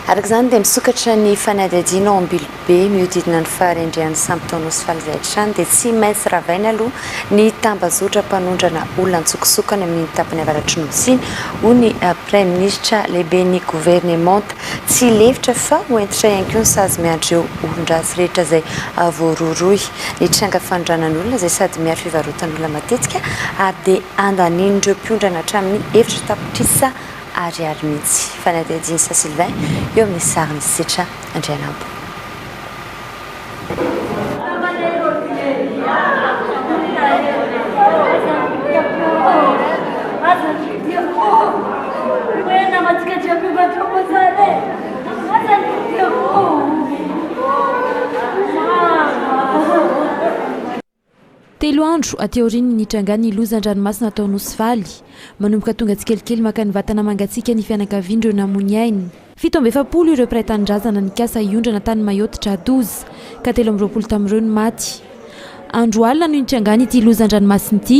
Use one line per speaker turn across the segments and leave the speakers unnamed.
Araka izany dia misokatra ny fanadihadiana ao Ambilobe mihodidina ny faharendrehan'ny sampy tao Nosy faly izay hatrany dia tsy maintsy ravaina aloha ny tambazotra mpanondrana olona an-tsokosokany amin'iny tapany avaratry Nosy iny hoy ny Praiminisitra lehiben'ny governemanta. Tsy lefitra fa ho hentitra ihany koa ny sazy miandry ireo olon-dratsy rehetra izay voarohirohy. Ny tranga fanondranan'olona izay sady miaro fivarotan'olona matetika ary dia andanian'ireo mpiondràna hatramin'ny efitra tapitrisa Ariary mihitsy. Fanadihadian'i Saint Sylvain eo amin'ny sarin'i Sitra Andrianampo.
Telo andro aty aorian'ny nitrangan'ny lozan-dranomasina tao Nosivaly, manomboka tonga tsikelikely maka ny vatana mangatsiaka ny fianakavian'ireo namoy ainy. Fito amby efapolo ireo mpiray tanindrazana nikasa hiondrana tany Mayotte Dra Douze, ka telo amby roapolo tamin'ireo no maty. Andro alina no nitrangan'ity lozan-dranomasina ity.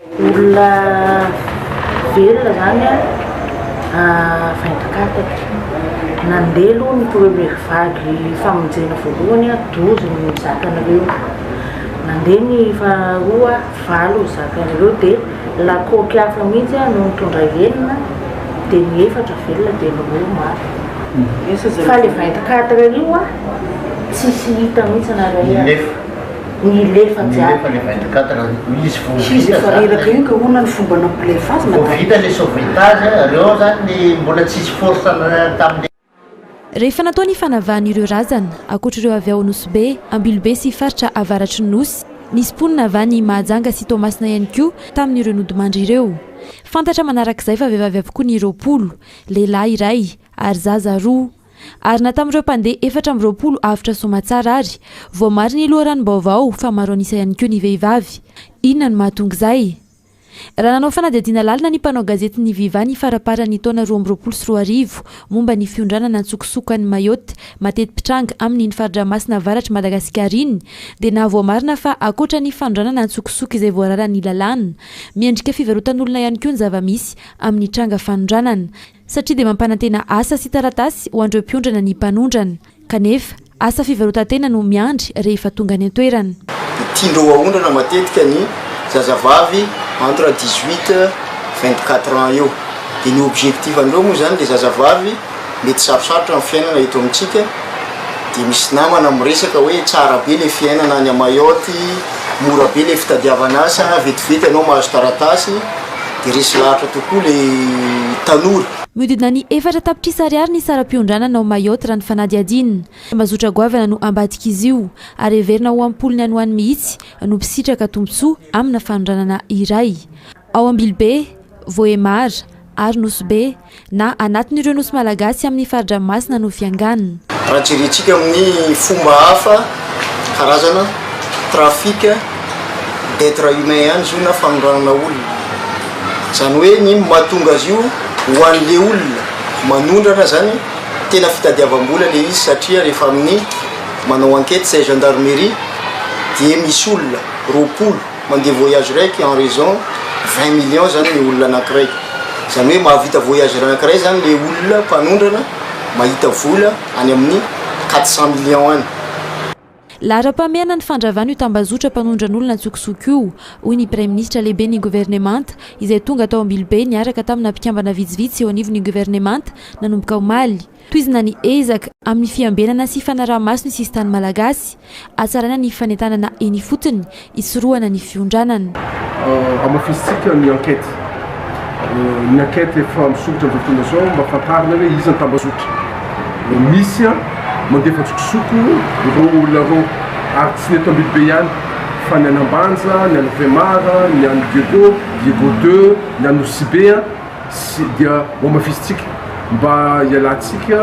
Olona velona zany a vaindonkataka. Nandeha aloha ny première vague famonjena voalohany a douze no zakanareo. Nandeha ny faharoa valo no zakanareo de lakoky hafa mihitsy a no nitondra enina de ny efatra velona de ny roa maty. Fa le vaindonkataka io a tsisy hita mihitsy na ray aza.
Nilefa jiaby. Nilefa le 24 heures io izy vao vita zany. Izy efa reraka io ka hoana ny fomba nampilefa azy madame. Vao vita le sauvetage reo zany ny mbola tsisy force tamle. Rehefa
natao ny fanavahan'ireo razana, ankoatr'ireo avy ao Nosy-Be, Ambilobe sy faritra avaratry ny Nosy, nisy mponina avy any Mahajanga sy Toamasina ihany koa tamin'ireo nodimandry ireo. Fantatra manarak'izay fa vehivavy avokoa ny roapolo, lehilahy iray ary zaza roa. Ary na tamin'ireo mpandeha efatra amby roapolo avotra soamatsara ary. Voamary ny loharanom-baovao fa maro an'isa ihany koa ny vehivavy. Inona no mahatonga izay? Raha nanao fanadihadiana lalina ny mpanao gazety ny Viva ny faramparan'ny taona roa amby roapolo sy roa arivo momba ny fiondranana an-tsokosoko an'i Mayotte mateti-pitranga amin'iny fari-dramasina avaratr'i Madagasikara iny dia nahavoamarina fa ankoatra ny fanondranana an-tsokosoko izay voararan'ny lalàna miendrika fivarotan'olona ihany koa ny zava-misy amin'ny tranga fanondranana satria dia mampanantena asa sy taratasy ho an'ireo mpiondrana ny mpanondrana, kanefa asa fivarotan-tena no miandry rehefa tonga any an-toerana. Dia tian-dreo haondrana
matetika ny zazavavy entre dix huit, vingt quatre ans eo. Dia ny objectif-ndreo moa izany dia zazavavy mety sarosarotra ny fiainana eto amintsika, dia misy namana miresaka hoe tsara be ilay fiainana any Mayotte, mora be ilay fitadiavana asa, vetivety ianao mahazo taratasy, Dia resy lahatra tokoa ilay tanora. Mihodidina ny
efatra tapitrisa ariary ny saram-piondranana ao Mayotte raha ny fanadihadiana. Tambazotra goavana no ambadik'izy io, ary heverina ho am-polony any ho any mihitsy no mpisitraka tombontsoa amina fanondranana iray. Ao Ambilobe, Vohemar ary Nosy Be, na anatin'ireo nosy malagasy amin'ny fari-dranomasina no fianganiny. Raha jerentsika
amin'ny fomba hafa, karazana trafic d'etre humain ihany izy io na fanondranana olona. Izany hoe ny mahatonga azy io ho an'ilay olona manondrana izany tena fitadiavam-bola ilay izy satria rehefa amin'ny manao enquête izay gendarmerie dia misy olona roapolo Mandeha voyage raiky en raison 20 millions zany le olona anakiray zany hoe mahavita voyage anakiray zany le olona mpanondrana mahita vola any amin'ny 400 millions any.
Laharam-pahamehana ny fandravana io tambazotra mpanondran'olona an-tsokosoko io, hoy ny Praiminisitra lehiben'ny Governemanta, izay tonga tao Ambilobe niaraka tamina mpikambana vitsivitsy eo anivon'ny Governemanta, nanomboka omaly. Tohizina ny ezaka amin'ny fiambenana sy fanaraha-maso ny sisintany malagasy, hatsaraina ny fanentanana eny ifotony, hisorohana ny fiondranana. Hamafisintsika
ny enquête, ny enquête efa misoritra amin'izao fotoana izao mba fantarina hoe iza ny tambazotra misy mandefa an-tsokosoko ireo olona ireo ary tsy ny eto Ambilobe ihany fa ny any Ambanja, ny any Vemar, ny any Diego, Diego deux, ny any Nosibe. Tsy dia hohamafisintsika mba hialantsika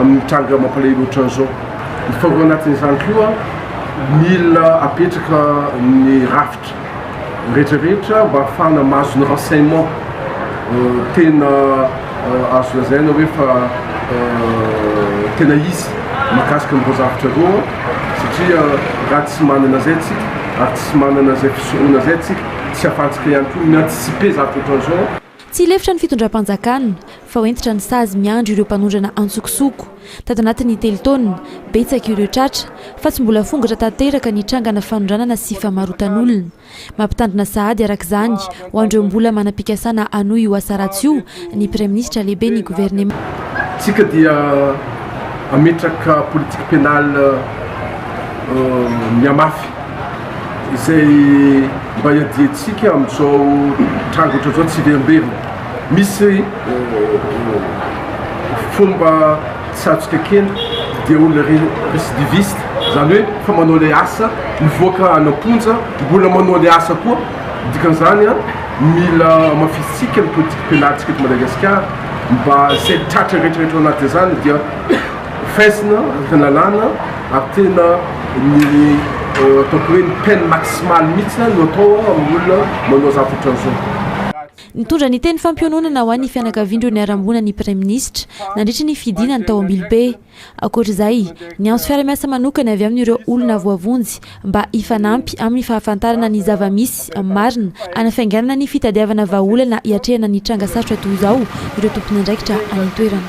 amin'ny tranga mampalahelo ohatran'izao. Mifanao anatin'izany koa, mila apetraka ny rafitra rehetrarehetra mba hahafahana mahazo ny renseignements tena azo lazaina hoe fa tena izy mahakasika an'ireo zavatra ireo, satria raha tsy manana izay isika ary tsy manana izay fisoronana izay isika, Tsy afantsika ihany koa ny anticiper zavatra ohatran'izao. Tsy lefitra ny
fitondram-panjakana, fa hoentitra ny sazy miandry ireo mpanondrana antsokosoko. Tato anatin'ny telo taona, betsaka ireo tratra, fa tsy mbola fongatra tanteraka ny trangana fanondranana sy famarotan'olona. Mampitandrina sahady, araka izany, ho an'ireo mbola manam-pikasana hanohy io asa ratsy io, ny Praiminisitra lehibe ny Governemanta. Tsika dia
hametraka politique pénale mihamafy izay mba hiadiantsika amin'izao tranga ohatran'izao tsy hiverimberina. Misy fomba tsy azontsika kena dia olona récidiviste, izany hoe efa manao ilay asa, mivoaka any am-ponja, mbola manao ilay asa koa, Ny dikan'izany, mila hamafisintsika ny politikam-pialantsika eto Madagasikara mba izay tratra rehetrarehetra ao anatin'izany dia hofaizina araka ny lalàna ary tena ny ataoko hoe ny peine maximale mihitsy no atao amin'ny olona manao zavatra ohatran'izao. Nitondra ny
teny fampiononana ho an'ny fianakavian'ireo niharam-boina ny Praiminisitra, nandritra ny fidinany tao Ambilobe. Ankoatra izay, niantso fiara-miasa manokana avy amin'ireo olona voavonjy mba hifanampy amin'ny fahafantarana ny zava-misy marina hanafainganana ny fitadiavana vahaolana hiatrehana ny tranga sarotra toy izao ireo tompon'andraikitra any an-toerana.